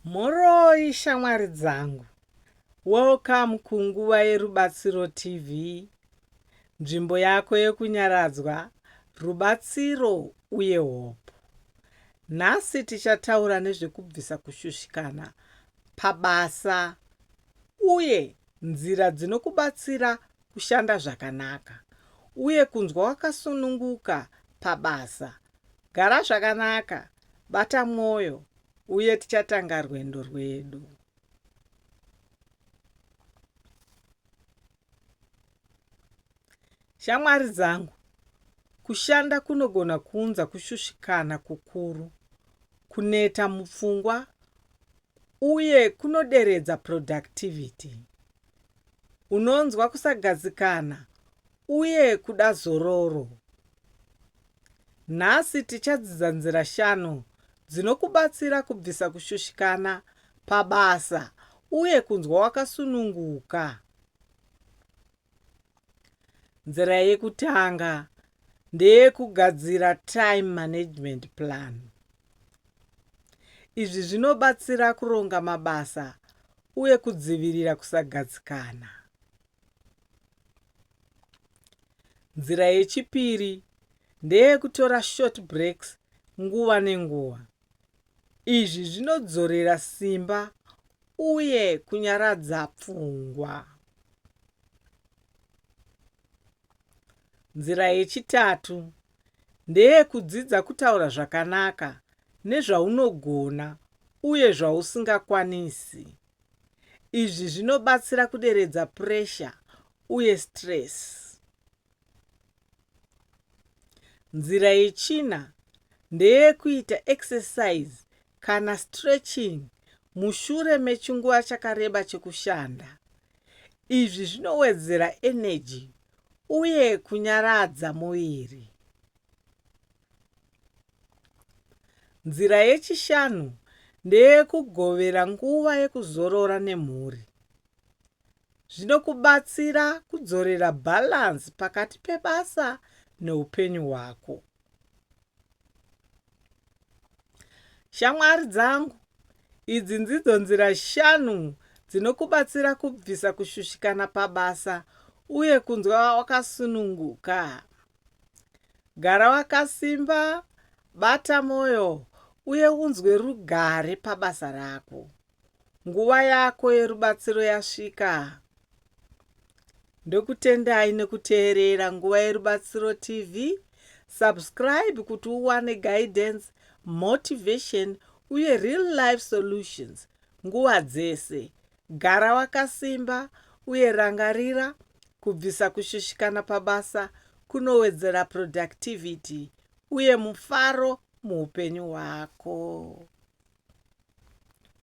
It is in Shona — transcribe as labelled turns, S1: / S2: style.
S1: Mhoroi shamwari dzangu. Welcome ku Nguva yeRubatsiro TV, nzvimbo yako yekunyaradzwa, rubatsiro uye hope. Nhasi tichataura nezvekubvisa kushushikana pabasa uye nzira dzinokubatsira kushanda zvakanaka uye kunzwa wakasununguka pabasa Gara zvakanaka, bata mwoyo, uye tichatanga rwendo rwedu. Shamwari dzangu, kushanda kunogona kuunza kushushikana kukuru, kuneta mupfungwa, uye kunoderedza productivity. unonzwa kusagadzikana uye kuda zororo. Nhasi tichadzidza nzira shanu dzinokubatsira kubvisa kushushikana pabasa uye kunzwa wakasununguka. Nzira yekutanga ndeyekugadzira time management plan. Izvi zvinobatsira kuronga mabasa uye kudzivirira kusagadzikana. Nzira yechipiri ndeyekutora short breaks nguva nenguva. Izvi zvinodzorera simba uye kunyaradza pfungwa. Nzira yechitatu ndeyekudzidza kutaura zvakanaka nezvaunogona uye zvausingakwanisi. Izvi zvinobatsira kuderedza puresha uye sitiresi. Nzira yechina ndeyekuita ekisesaizi kana sitirechin'i mushure mechinguva chakareba chekushanda. Izvi zvinowedzera eneji uye kunyaradza muviri. Nzira yechishanu ndeyekugovera nguva yekuzorora nemhuri. Zvinokubatsira kudzorera bhalanzi pakati pebasa neupenyu hwako. Shamwari dzangu, idzi ndidzo nzira shanu dzinokubatsira kubvisa kushushikana pabasa uye kunzwa wakasununguka. Gara wakasimba, bata mwoyo uye unzwe rugare pabasa rako. nguva yako yerubatsiro yasvika. Ndokutendai nekuteerera Nguva Yerubatsiro TV. Subscribe kuti uwane guidance, motivation uye real life solutions nguva dzese. Gara wakasimba uye rangarira kubvisa kushushikana pabasa kunowedzera productivity uye mufaro muupenyu hwako.